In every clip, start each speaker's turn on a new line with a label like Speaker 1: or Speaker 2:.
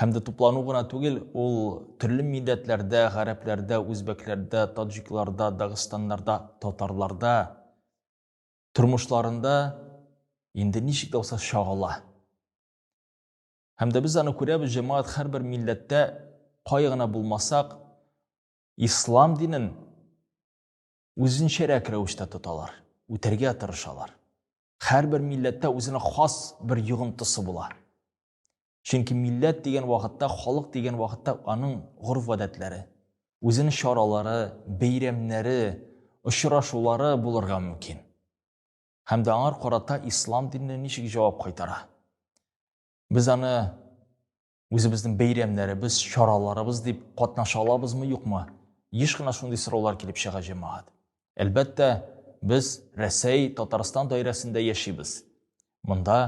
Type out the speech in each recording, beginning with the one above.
Speaker 1: Һәм дә туплану гына түгел, ул төрле милләтләрдә, гарәпләрдә, үзбәкләрдә, таджикларда, дагыстаннарда, татарларда тормышларында инде ничек тә булса чагыла. Һәм дә без аны күрәбез, җәмәгать һәрбер милләттә кай гына булмасак, ислам динен үзенчәрәк рәвештә тоталар, үтәргә тырышалар. Һәрбер милләттә үзенә хас бер йогынтысы була. Чөнки милләт дигән вакытта, халык дигән вакытта аның горф-гадәтләре, үзенең чаралары, бәйрәмнәре, очрашулары булырга мөмкин. Һәм дә аңар карата ислам дине ничек җавап кайтара? Без аны үзебезнең бәйрәмнәребез, чараларыбыз дип катнаша алабызмы, юкмы? Еш кына шундый сораулар килеп чыга җәмәгать. Әлбәттә, без Рәсәй, Татарстан даирәсендә яшибез. Монда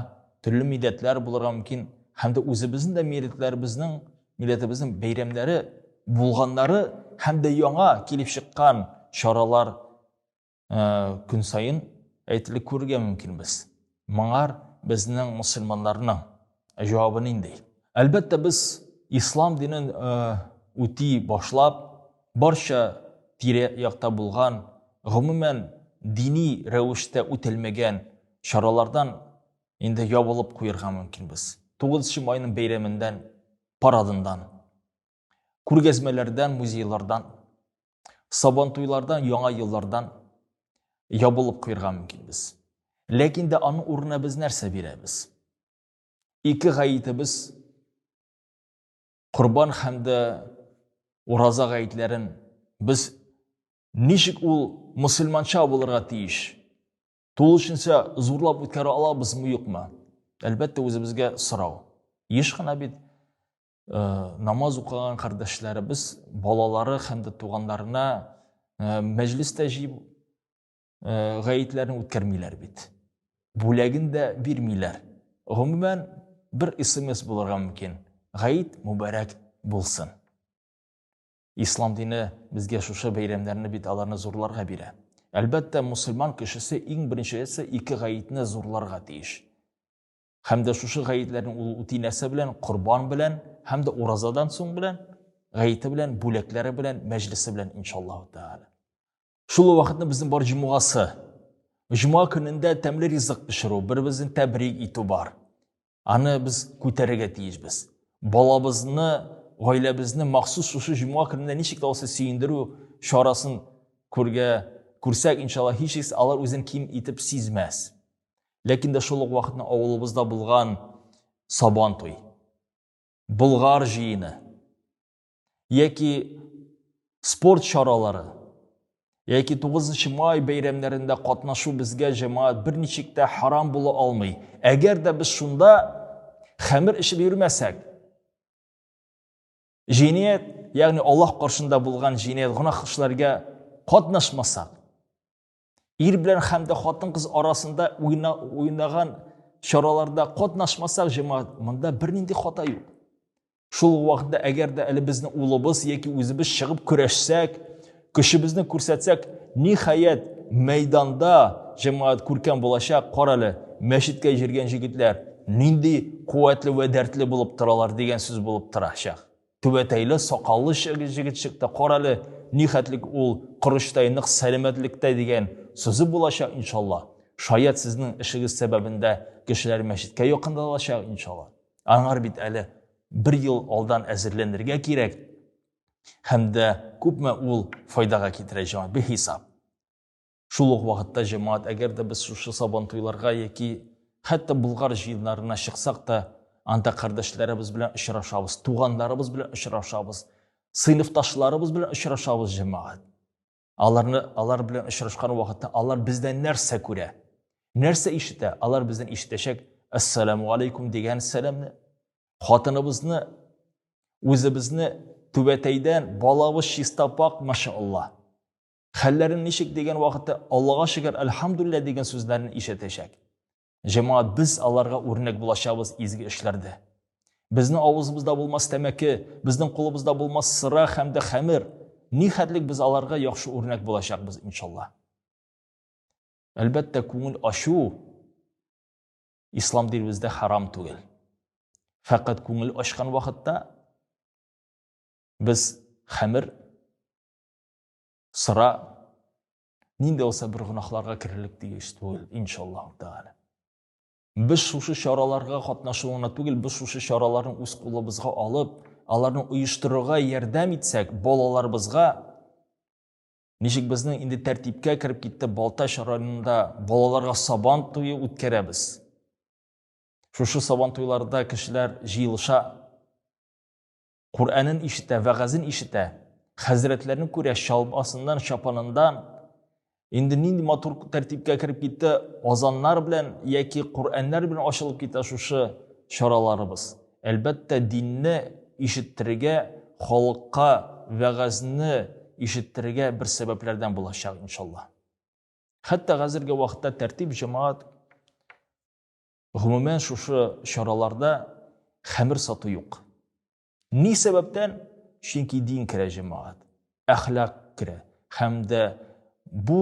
Speaker 1: төрле милләтләр булырга мөмкин, һәм дә үзебезнең дә милләтләребезнең, милләтебезнең бәйрәмнәре булганнары һәм дә яңа килеп чыккан чаралар э, көн саен әйтелеп күрергә мөмкинбез. Моңар безнең мусульманнарның җавабы нинди? Әлбәттә, без ислам динен э, үти башлап, барча тирә якта булган, гомумән дини рәвештә үтелмәгән чаралардан инде ябылып куярга мөмкинбез. 9 майның бәйрәмендән, парадындан. күргәзмәләрдән, музейлардан, сабантуйлардан, яңа еллардан ябылып куярга мөмкин без. Ләкин дә аның урынына без нәрсә бирәбез? Ике гаетебез Корбан һәм дә Ураза гаетләрен без ничек ул мусульманча булырга тиеш? Тулышынча зурлап үткәрә алабызмы, юкмы? Әлбәттә, үзебезгә сорау. Еш кына бит Э, намаз укыган кардәшләребез балалары һәм дә туганнарына э, мәҗлестә җыеп э, гаетләрен үткәрмиләр бит бүләген дә бирмиләр гомумән бер смс булырга мөмкин гаит мөбарәк булсын ислам дине безгә шушы бәйрәмнәрне бит аларны зурларга бирә әлбәттә мусульман кешесе иң беренчесе ике гаетне зурларга тиеш һәм дә шушы гаетләрне ул үти нәрсә белән корбан белән һәм дә уразадан соң белән гаете белән бүләкләре белән мәҗлесе белән иншаллаһу тәала шул вакытны безнең бар җомгасы җома көнендә тәмле ризык пешерү бер беребезне тәбрик итү бар аны без күтәрергә тиешбез балабызны гаиләбезне махсус шушы җома көнендә ничек тә булса сөендерү чарасын күргә күрсәк иншалла һичшиксез алар үзен ким итеп сизмәс Ләкин дә шул ук вакытны авылыбызда булган сабан туй, Болгар җыены яки спорт чаралары яки 9 май бәйрәмнәрендә катнашу безгә җәмәгать берничек тә харам була алмый. Әгәр дә без шунда хәмер эчеп йөрмәсәк, җиният, ягъни Аллаһ каршында булган җиният гына эшләргә катнашмасак, Ир белән һәм дә хатын-кыз арасында уйна, уйнаган чараларда катнашмасак, җәмәгать, монда бернинди хата юк. Шул вакытта әгәр дә әле безнең улыбыз яки үзебез чыгып көрәшсәк, көчебезне күрсәтсәк, ниһаять, мәйданда җәмәгать күркәм булачак, кара әле, мәчеткә җиргән җегетләр нинди куәтле вә дәртле булып торалар дигән сүз булып торачак. Түбәтәйле сакаллы җегет чыкты. Карале, нихәтлек ул корычтай нык сәламәтлектә дигән сүзе булачак иншалла. Шаят сезнең эшегез сәбәбендә кешеләр мәчеткә якындалачак иншалла. Аңар бит әле бер ел алдан әзерләнергә кирәк. Һәм дә күпме ул файдага китерә җан бихисап. Шул ук вакытта җәмәгать, әгәр дә без шушы сабантуйларга яки хәтта Болгар җыеннарына чыксак та, анда кардәшләребез белән очрашабыз, туганнарыбыз белән очрашабыз, сыйныфташларыбыз белән очрашабыз җәмәгать. Аларны алар белән очрашкан вакытта алар бездән нәрсә күрә? Нәрсә ишетә? Алар бездән ишетәчәк Ассаламу алейкум дигән сәламне. Хатыныбызны үзебезне түбәтәйдән балабыз чиста пак, машаллаһ. Хәлләрен ничек дигән вакытта Аллага шөкер, альхамдулилла дигән сүзләрен ишетәчәк. Җәмәгать без аларга үрнәк булачабыз изге эшләрдә. Безне авызыбызда булмас тәмәке, безнең кулыбызда булмас сыра һәм дә хәмер. Ни хәтлек без аларга яхшы үрнәк булачакбыз иншалла. Әлбәттә, күңел ачу ислам динебездә харам түгел. Фәкать күңел ачкан вакытта без хәмер Сыра нинди булса бер гөнаһларга керерлек тиеш түгел, иншаллаһу тәгалә. Без шушы чараларга катнашу гына түгел, без шушы чараларны үз кулыбызга алып, аларны оештырырга ярдәм итсәк, балаларыбызга ничек безнең инде тәртипкә кереп китте Балтач районында балаларга сабан туе үткәрәбез. Шушы сабан туйларда кешеләр җыелыша. Куранын ишетә, вәгазен ишетә, хәзрәтләрне күрә, чалбасыннан, чапанындан. Инде нинди матур тәртипкә кереп китте, азаннар белән яки Кураннар белән ачылып китә шушы чараларыбыз. Әлбәттә, динне ишеттерергә, халыкка вәгазьне ишеттерергә бер сәбәпләрдән булачак, иншалла. Хәтта хәзерге вакытта тәртип җәмәгать Гомумән, шушы чараларда хәмер сату юк. Ни сәбәптән? Чөнки дин керә җәмәгать, әхлак керә һәм дә бу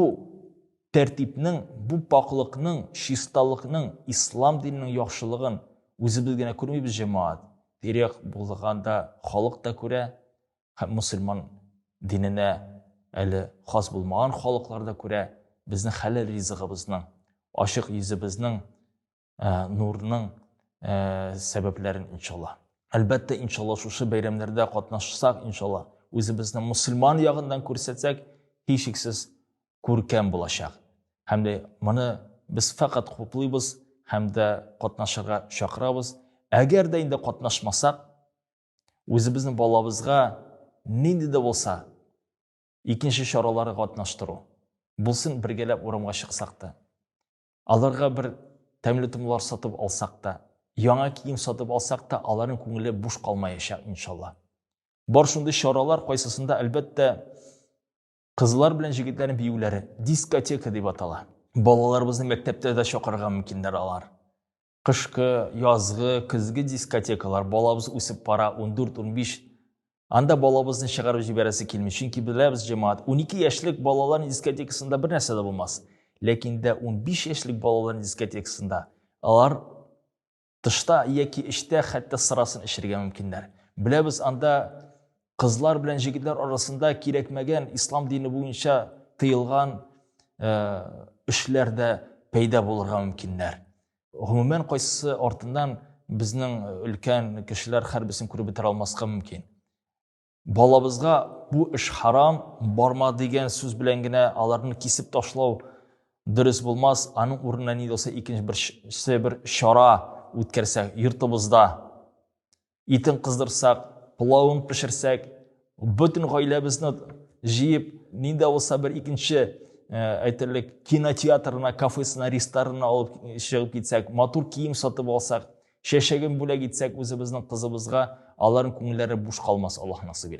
Speaker 1: тәртипнең, бу пакълыкның, чисталыкның, ислам диненең яхшылыгын үзебез генә күрмибез җәмәгать. Тирәк булганда халык та күрә, һәм мусульман диненә әле хас булмаган халыклар да күрә безнең хәләл ризыгыбызның ачык йөзебезнең ә, нурның ә, сәбәпләрен иншалла әлбәттә иншалла шушы бәйрәмнәрдә катнашсак иншалла үзебезне мусульман ягыннан күрсәтсәк һичшиксез күркәм булачак һәм дә моны без фәкать хуплыйбыз һәм дә катнашырга чакырабыз әгәр дә инде катнашмасак үзебезнең балабызга нинди дә булса икенче чаралары катнаштыру булсын бергәләп урамга чыксак та аларга бер тәмле томлар сатып алсак та яңа кием сатып алсак та аларның күңеле буш калмаячак иншалла бар шундый чаралар кайсысында әлбәттә кызлар белән җегетләрнең биюләре дискотека дип атала балаларыбызны мәктәптә дә чакырырга мөмкиннәр алар Кышкы, язгы, көзге дискотекалар балабыз үсеп пара 14-15 Анда балабызны чыгарып җибәрәсе килми, чөнки беләбез җәмәгать, 12 яшьлек балалар дискотекасында бер нәрсә дә булмас. Ләкин дә 15 яшьлек балалар дискотекасында алар тышта яки эчтә хәтта сырасын эчергә мөмкиннәр. Беләбез, анда кызлар белән җегетләр арасында кирәкмәгән ислам дине буенча тыелган эшләр дә пәйда булырга мөмкиннәр гомумән кайсысы артыннан безнең өлкән кешеләр хәрбесен күреп бетерә алмаска мөмкин балабызга бу эш харам барма дигән сүз белән генә аларны кисеп ташлау дөрес булмас аның урынына ни булса икенче бер бер чара үткәрсәк йортыбызда итен кыздырсак пылавын пешерсәк бөтен гаиләбезне җыеп нинди булса бер икенче әйтерлек кинотеатрына кафесына ресторана алып чыгып китсәк матур кием сатып алсак чәчәген бүләк итсәк үзебезнең кызыбызга аларның күңелләре буш калмас аллаһ насыйп